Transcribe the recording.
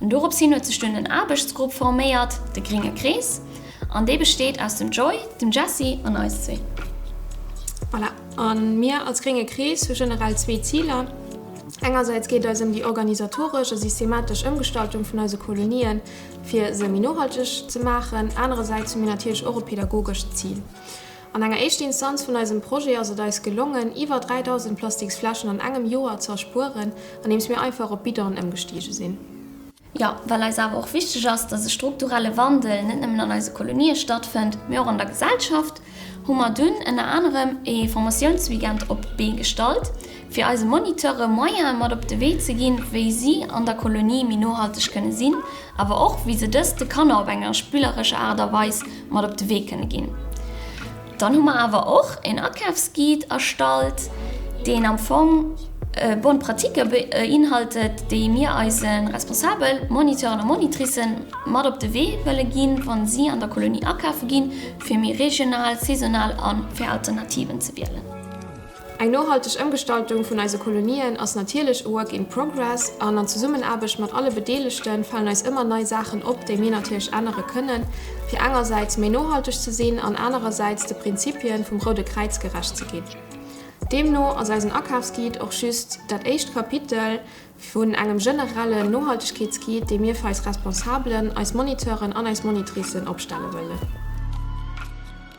An dorops hin huet sech dunn en Aarbechtsgrupp forméiert, de gringe Krees, an dee besteet aus dem Joy, dem Jessie an eis zwee. Voilà, a mir als gringe Krees hu generell zwee Ziler, Engersäits geet et eis ëm déi organisatoresch a systematesch Ëmgestaltung vun eise Kolonien, fir se méi nohalteg ze maachen. Anerersäits hu mir natierlech och e pädagogescht Zil. An enger éischte Instanz vun eisem Projet ass et eis gelongen, iwwer 3.000 Plastiksfläschen an engem Joer ze erspueren, andeems mir einfach op Bidonen ëmgestige sinn. Jo, well eis awer och wichteg ass, dass e strukturelle Wandel net nëmmen an eise Kolonië stattfënnt, mee och an der Gesellschaft, hu mer dunn ënner anerem e Formatiounsweekend op d'Bee gestallt, fir eise Moniteure Moyene mat op de Wee ze ginn, wéi si an der Kolonie méi nohalteg kënne sinn, awer och wéi se dëst de Kanner op enger spillerescher Aart a Weis mat op de Wee kënne ginn. Dann hu mer awer och en Akafsguide erstallt, deen am Fong Bonne pratique beinhaltet, déi mir eise Responsabel, Moniteuren a Monitricen mat op de Wee wëlle ginn, wa si an der Kolonie akafe ginn, fir méi regional, saisonal a fir Alternativen ze wielen. Eng nohalteg Ëmgestaltung vun eise Kolonien ass natierlech e Work in Progress an an Zesummenaarbecht mat alle Bedeelegte falen eis ëmmer nei Saachen op, déi mir natierlech ännere kënnen, fir engersäits méi nohalteg ze sinn an anerersäits de Prinzipien vum Roude Kräiz gerecht ze ginn. Deemno ass eisen Akafsguide och just dat éischt Kapitel vun engem generellen Nohaltegkeetsguide, dee mir fir eis Responsabelen, eis Moniteuren an eis Monitricen opstelle wëllen.